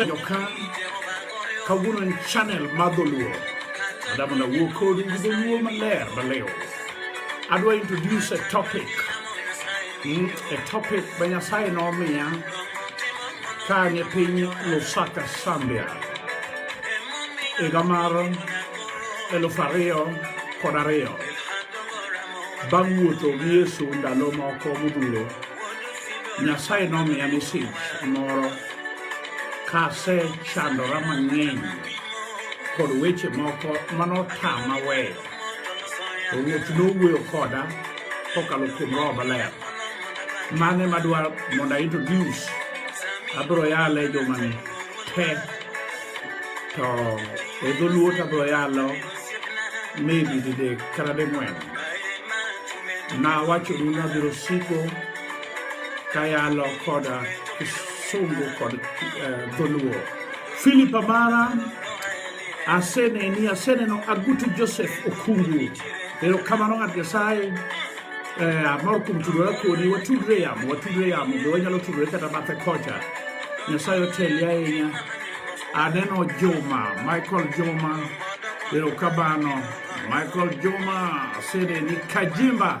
Joka kawuono en channel mar dholuo adamo na wuo kodu gi dholuo maler malewo adwa introduce a topic mm, a topic ma nyasaye nomiya ka an e piny lusaka sambia higa mar elufu ariyo kod ariyo bang' wuotho gi yesu ndalo moko modhuro nyasaye nomiya mesej moro Kasechandora mang'eny kod weche moko manotama weyo. To Ruoth nowuoyo koda kokalo kuom Roho Maler. Mane madwar mondo a introduce abiro yale jomani te to e dholuo to abiro yalo maybe didek kata ding'wen. Nawachonu nabiro siko kayalo kod kisungu kod eh, dholuo philip amara aseneni aseneno agutu joseph okungu erokamano ng'at nyasaye eh, amor kuom tudore kodi watudre yamo watudre yamo be wanyalo tudore kata bathe kocha nyasaye oteli ahinya aneno juma michael juma erokamano michael juma aseneni kajimba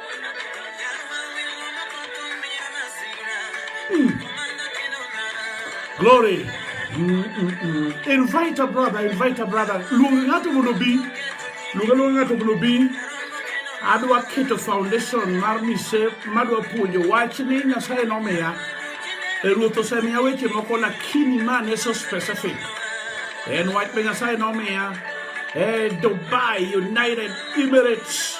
Glory. Mm, mm, mm. Invite a brother, invite a brother. Luonga ng'ato mondo bi. Luonga luonga ng'ato mondo bi. Adwa keto foundation mar mise madwa puonjo wach ni Nyasaye nomiya. E ruoth osemiya weche moko lakini man is so specific. En wach be Nyasaye nomiya. E Dubai, United Emirates.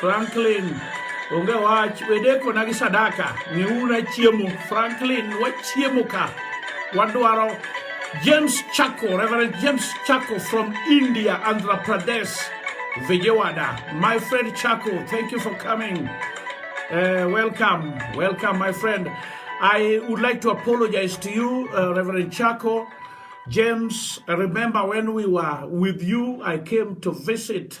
Franklin onge wach wedeko na gi sadaka miuna chiemo Franklin wachiemo ka wadwaro James Chako Reverend James Chako from India Andhra Pradesh Vijayawada my friend Chako thank you for coming uh, welcome welcome my friend I would like to apologize to you uh, Reverend Chako James, I remember when we were with you, I came to visit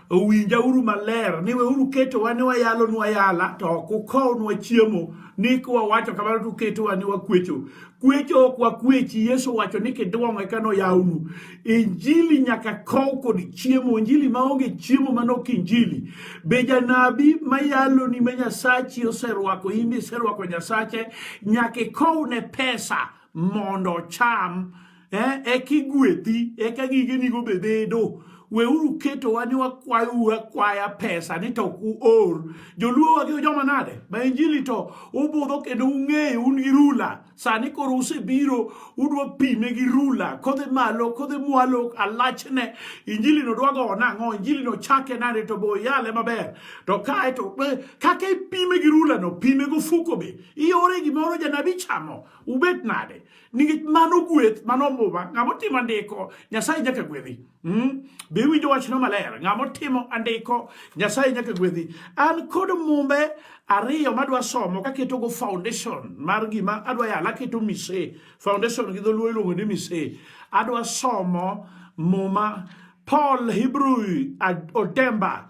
owinja uru maler ni weuru ketowa ni wayalonwa yala to ok ukownwa chiemo ni kwawacho kamano to uketowa ni wakwecho kwecho ok wakwechi yesu wacho ni kidwong' eka noyawnu injili nyaka kow kod chiemo injili maonge chiemo mano ok injili be janabi mayaloni ma nyasachi oserwako imbe iserwako nyasache nyaka ikow ne pesa mondo ocham eh, eka igwedhi eka gigenigo be bedo weuru ketowa ni wakwayou akwaya pesa ni to uor joluo wagi joma nade ma injili to ubudho kendo ung'eyo un gi rula sani koro usebiro udwa pime gi rula kodhi malo kodhi mwalo alachne injili no dwa go nang'o injili no chake nade to bo yale maber to kae to kaka ipime gi rula no pime go fuko be iore gimoro janabi chamo ubet nade nikech mano gweth mano muma ng'ama otimo andiko nyasaye nyaka gwedhi hmm? be iwinjo wachno maler ng'ama otimo andiko nyasaye nyaka gwedhi an kod mumbe ariyo madwa somo kaketogo foundation mar gima adwa yala aketo mise foundation gi dholuo iluongo ni mise adwa somo muma paul hebrew odemba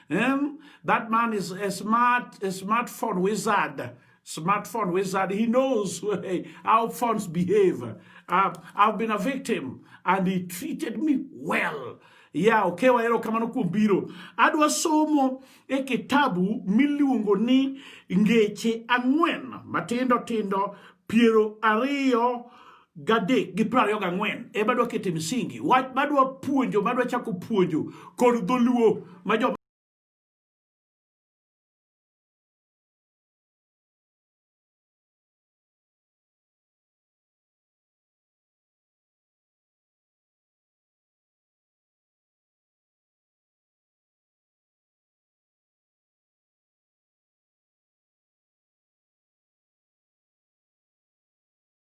Um, that man is a smart, a smartphone wizard. Smartphone wizard. He knows how phones behave. Uh, I've been a victim and he treated me well. ya oke okay, wahero kamano kuom biro adwa somo e kitabu miluongo ni ngeche ang'wen matindo tindo piero ariyo gadek gi piero ariyo gang'wen e madwa kete msingi wach madwa puonjo madwa chako puonjo kod dholuo ma jo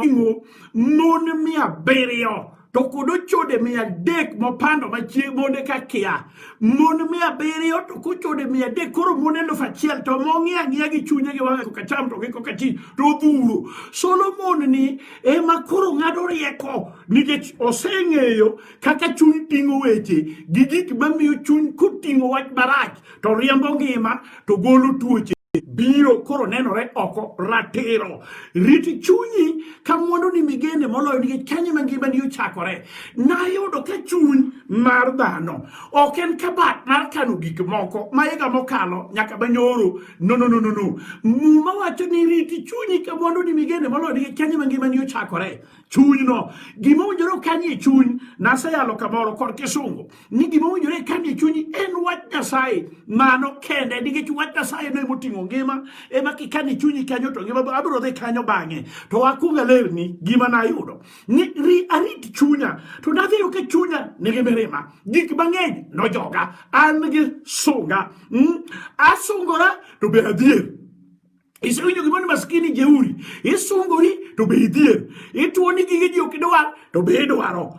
ring'o mon mia abiriyo to kod ochode mia adek mopando machieng' monde ka kia mon mia abiriyo to kochode mia adek koro mon elufu achiel to mong'iyo ang'iya gi chunye gi wang'e kokacham to gi kokati to odhuro Solomon ni ema koro ng'ado rieko nikech oseng'eyo kaka chuny ting'o weche gi gik mamiyo chuny koting'o wach marach to riembo ngima to golo tuoche biro koro nenore oko ratiro rit chunyi ka mwandu ni migende moloyo nikech kanye ma ngima ni ochakore nayudo ka chuny mar dhano ok en kabat mar kano gik moko ma higa mokalo nyaka manyoro No, no, no, no, no. Muma wacho ni riti chunyi ka mwandu ni migene moloyo ni kanye mangima ni ochakore. Chuny no. Gima winjore kanye chuny naseyalo kamoro kor kisungu. Ni gima winjore kanye chunyi en wach Nyasaye. Mano kende nikech wach Nyasaye no emoting'o ngima. Ema kikanye chunyi kanyo to ngima abiro dhi kanyo bang'e. To akunga lerni gima nayudo. Ni ri arit chunya. To nadhi yo ke chunya nigi mirima. Gik mang'eny nojoga. An gi sunga. Mm? Asungora to be adhier. Isewinjo gimoni maskini jeuri. Isungori to be idhier. Ituoni gige ji ok idwar to be idwaro.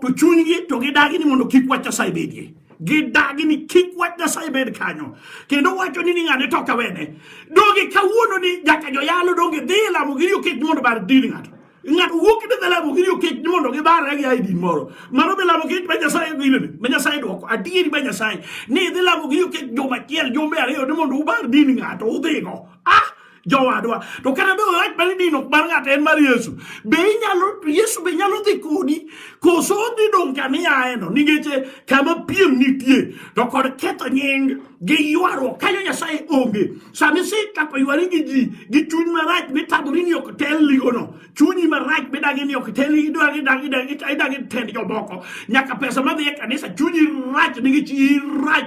to chunygi to gidagi ni mondo kik wach Nyasaye bedie gidagi ni kik wach Nyasaye bed kanyo kendo wacho ni ni ng'ane to kawene donge kawuono ni nyaka joyalo donge dhi e lamo gi riyo kech mondo bar dini ng'ato ng'ato wuok kinde dhi lamo gini okech ni mondo gibarre gi aidin moro mano be lamo kech ma nyasaye gilene ma nyasaye dwoko adieri ma nyasaye ni idhi lamo gini okech juma achiel jumbe ariyo ni mondo ubar din ng'ato udhigo ah jowadwa to kata be wach mane dino mar ng'ato en mar yesu be inyalo yesu be nyalo dhi kodi koso dhi dong' kama iaeno nikech kama piem nitie to kod ketho nying gi ywaruok kanyo nyasaye onge sama isetako ywari gi ji gi chuny marach mitamori ni ok tel ligono chunyi marach midagi ni ok tel idagi tend jomoko nyaka pesa madhi e kanisa chunyi rach nikech irach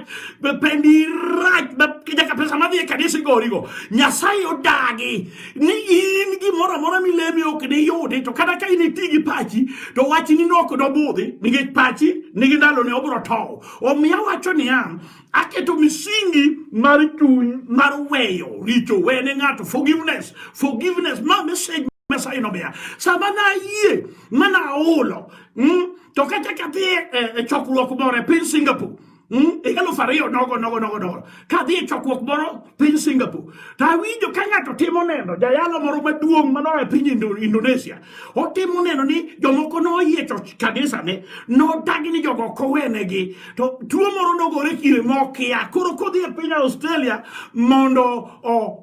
pendi irach nyaka pesa madhi e kanisa igorigo nyasaye odagi ni in gimoro amora milemi ok niyudi to kata ka in iti gi pachi to wachni nok nobudhi nikech pachi nigi ndalone obro tow omiyo awacho niya aketo misingi mar chuny mar weyo richo wene ng'ato forgiveness forgiveness ma message Nyasaye nomiya sama nayie ma naolo mm, to kata kadhi e, e, e chokruok moro e piny Singapore mm, higa alufu ariyo nogo nogo nogo nogo kadhi e chokruok moro piny Singapore to awinjo ka ng'ato timo neno jayalo moro maduong' manoa e piny Indonesia otimo neno ni jomoko noyiecho kabisane nodagi ni jogo ok owenegi to tuo moro nogore kire mokia koro kodhi e piny australia mondo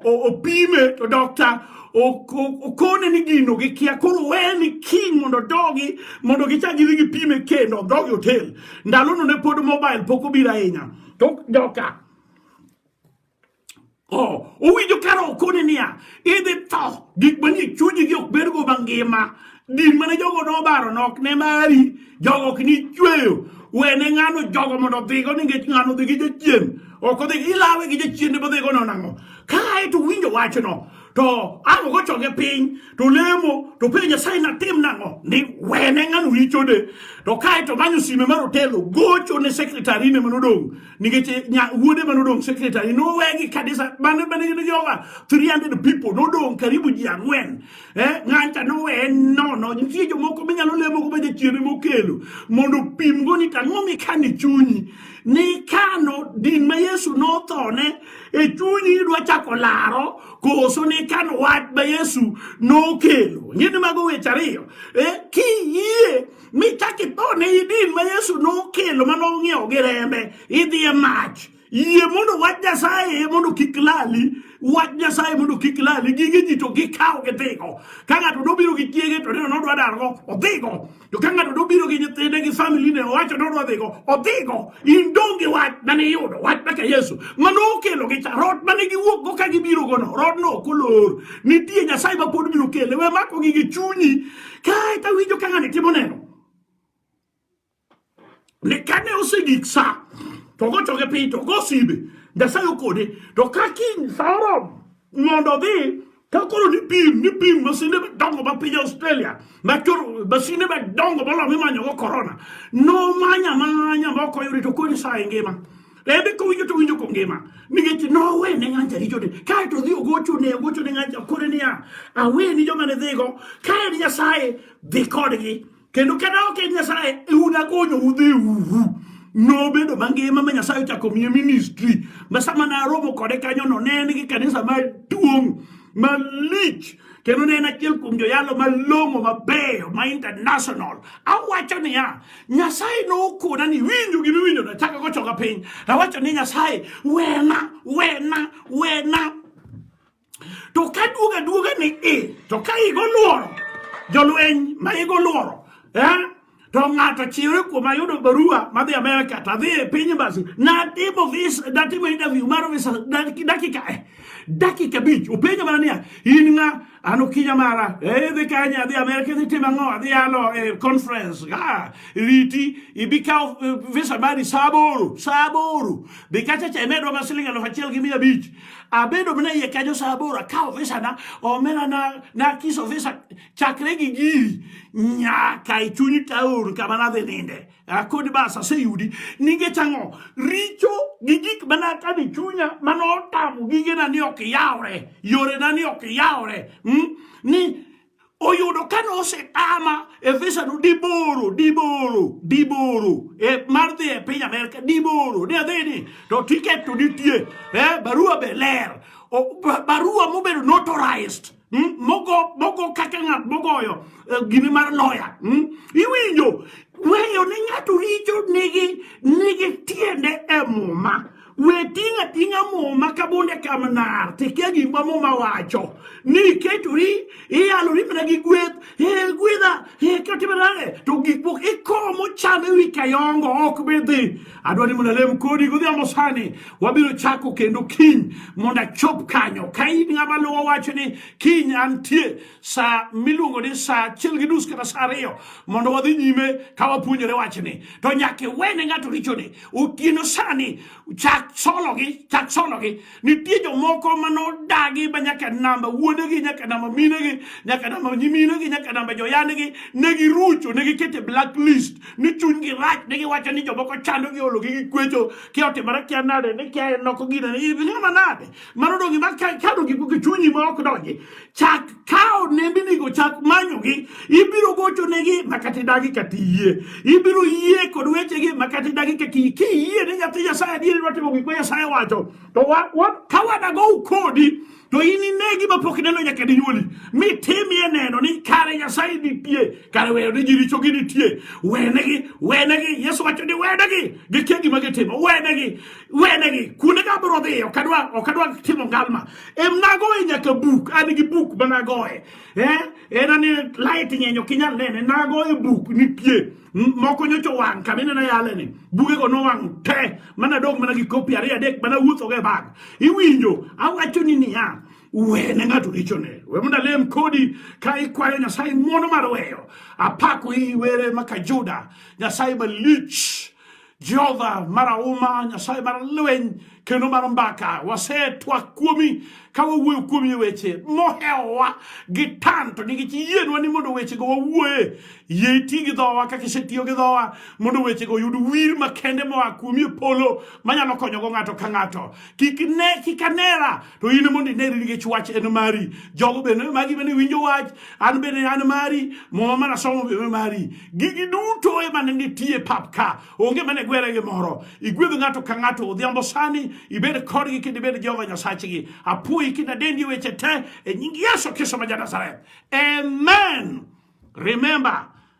opime to dokta okone ni gino gikia koro weni kiny mondo dogi mondo gichak gidhi gipime kendo dhogi otel ndalono ne pod mobile pok obiro ahinya to joka Oh, owinjo kara okone niya, idhi tho, gik manie chunyi gi ok bergo mangima. Din mane jogo nobaro nok ne mari, jogo ok ni chweyo. Wene ng'ano jogo mondo odhigo nikech ng'ano dhi gi jachien. Ok odhi ilawe gi jachien ne bodhigo no nang'o. Kae to winjo wachno, to ang' gochoge piny, to lemo, to penjo Nyasaye natim nang'o? Ni wene ng'ano richone. To kae to manyo sime mar otelo, gocho ne sekretari ne manodong'. nikech eh, wuode ma nodong' secretary nowegi kanisa mane mane gin joga 300 people nodong' karibu ji ang'wen eh, ng'ancha noweye nono nitie jomoko minyalo lemo go majachiene mokelo mondo opimgo ni tang'o mikano e chunyi nikano din ma yesu nothone e chunyi idwa chako laro koso nikano wach ma yesu nokelo ng'eni mago weche ariyo eh, kiyie michak itho ne idin ma yesu nokelo ma nong'iewo gi rembe idhi e mach yie mondo wach nyasaye mondo kik lali wach nyasaye mondo kik lali gige ji to gikawo gidhigo ka ng'ato nobiro gi chiege to neno nodwa dargo odhigo to ka ng'ato nobiro gi nyithinde gi famili ne owacho nodwa dhigo odhigo in dong' gi wach mane iyudo wach maka yesu mane okelo gi cha rot mane giwuokgo ka gibirogono rodno ok olor nitie nyasaye ma pod biro kele we mako gi gi chunyi Kae to awinjo ka ng'ani timo neno. Ne kane osegik sa, to gochoke piny, to go simbe. Nyasaye okode, to ka kiny sa oromo mondo odhi, to koro nipim, nipim masinde madongo ma piny Australia, ma koro masinde madongo moloyo mimanyogo korona. Nomanya manya ma ok oyudi, to koro ni sa e ngima. Ebe ko winjo to winjo ko ngima. Nikech nowe ne ng'anja richo ne. Kae to dhi ogocho ne ogocho ne ng'anja kore niya. Awe ni joma ne dhigo. Kae ni Nyasaye dhi kodgi. Kendo kata ok en Nyasaye e unakonyo udhi uhu. Nobedo mangima ma Nyasaye ochako miye ministry. Ma sama naromo kode kanyono ne en gi kanisa maduong' malich kendo ne en achiel kuom joyalo malong'o mabeyo ma international awacho niya nyasaye nokona ni winjo gima iwinjo nachaka gochoka piny awacho ni nyasaye wena wena wena to ka duoga duoga ni i to ka igo luoro jolweny ma igo luoro eh? to ng'ato chiwre kuom ayudo barua madhi Amerika to adhi e piny embassy natimo vis natimo interview mar visa dakika eh, dakika abich openja mana niya in ng'a an okinya mara eh, idhi kanye adhi Amerika idhi timo ang'o adhi yalo e conference ah, riti ibi kawo eh, visa mari saa aboro saa aboro be kacha cha imedwa ma siling alufu achiel gi mia abich abedo mana iye kanyo saa aboro akawo visa na omena na nakiso visa chakre gi giri nyaka e chuny taon kama nadhi ninde akod bas aseyudi nikech ang'o richo gi gik manakane e chunya mane otamo gigena ni ok yawre yorena ni ok yawre hmm? ni oyudo kane osetama e visano diboro diboro diboro e mar dhi e piny amerka diboro ni adhi ni to tiket to nitie eh, barua be ler barua mobedo notarized hmm? mogo mogo kaka ng'at mogoyo eh, gini mar loya hmm? iwinjo weyo ne ng'ato richo nigi nigi tiende e muma we ting'a ting'a muma ka bunde kam nar tikia gimwa muma wacho ni iketori iyalori mana gi gweth e gwedha e kotimana to gik moko ikomo cham e wi kayongo ok bi dhi adwa ni mondo alem kodi godhiambo sani wabiro chako kendo kiny mondo achop kanyo ka in ng'ama luwo wacho ni kiny antie sa miluongo ni sa achiel gi nus kata sa ariyo mondo wadhi nyime ka wapuonjore wachni to nyaka iwene ng'ato richone otieno sani chak sologi chak sologi Nitie jomoko ma nodagi ma nyaka namba wuonegi, nyaka namba minegi, nyaka namba nyiminegi, nyaka namba joyanegi, ne girucho, ne gikete blacklist, ni chunygi rach, ne giwacho ni jomoko chando gi ologi gi kwecho, kia otimore kia nade, ni kia noko gina, ni manade, mano dongi ma kano gi chunyi ma ok donji, chak ka onembinigo chak manyogi ibiro gochonegi makata idagi kata iyie ibiro yie kod wechegi makata idagi kata iyie kiyie ni nyathi nyasaye adieri watimo gik ma nyasaye wacho to ka wadagow kodi to in inegi mapok ineno nyaka dinyuoli mitimie neno ni kare nyasaye nitie kare weyo ni jirichogi nitie wenegi wenegi yesu wacho ni wenegi gikia gima gitimo wenegi wenegi kuonde ka abiro dhiye okadwa okadwa timo ngalma em nagoye nyaka buk an gi buk ma nagoye eh? en ani light ng'eny ok inyal nene nagoye buk nitie moko nyocho wang' kama ineno yaleni bugego nowang' te mana dong' mana gi kopi ariyo adek mana wuothogo e bag iwinjo awacho ni niya wene ng'ato richone we mondo alem kodi ka ikwayo nyasaye ng'wono mar weyo apako iwere maka juda nyasaye malich Jehova marahuma Nyasaye mar lweny kendo mar mbaka wasetwak kuomi ka wawuoyo kuomi e weche mohewowa gi tan to nikech yienwa ni mondo wechego wawuoye yie iti gi dhowa kaka isetiyo gi dhowa mondo wechego oyud wir makende moa kuomi e polo manyalo konyogo ng'ato ka ng'ato kik ne kik anera to in mondo ineri nikech wach en mari jogo bende magi bende winjo wach an bende an mari muma mana somo bende mari gigi duto ema ne nitie pap ka onge mane gwere gi moro igwedh ng'ato ka ng'ato odhiambo sani ibed kodgi kendo ibed jehova nyasachgi apuoyi kendo adendi weche te e nying yesu kristo ma ja nazareth amen remember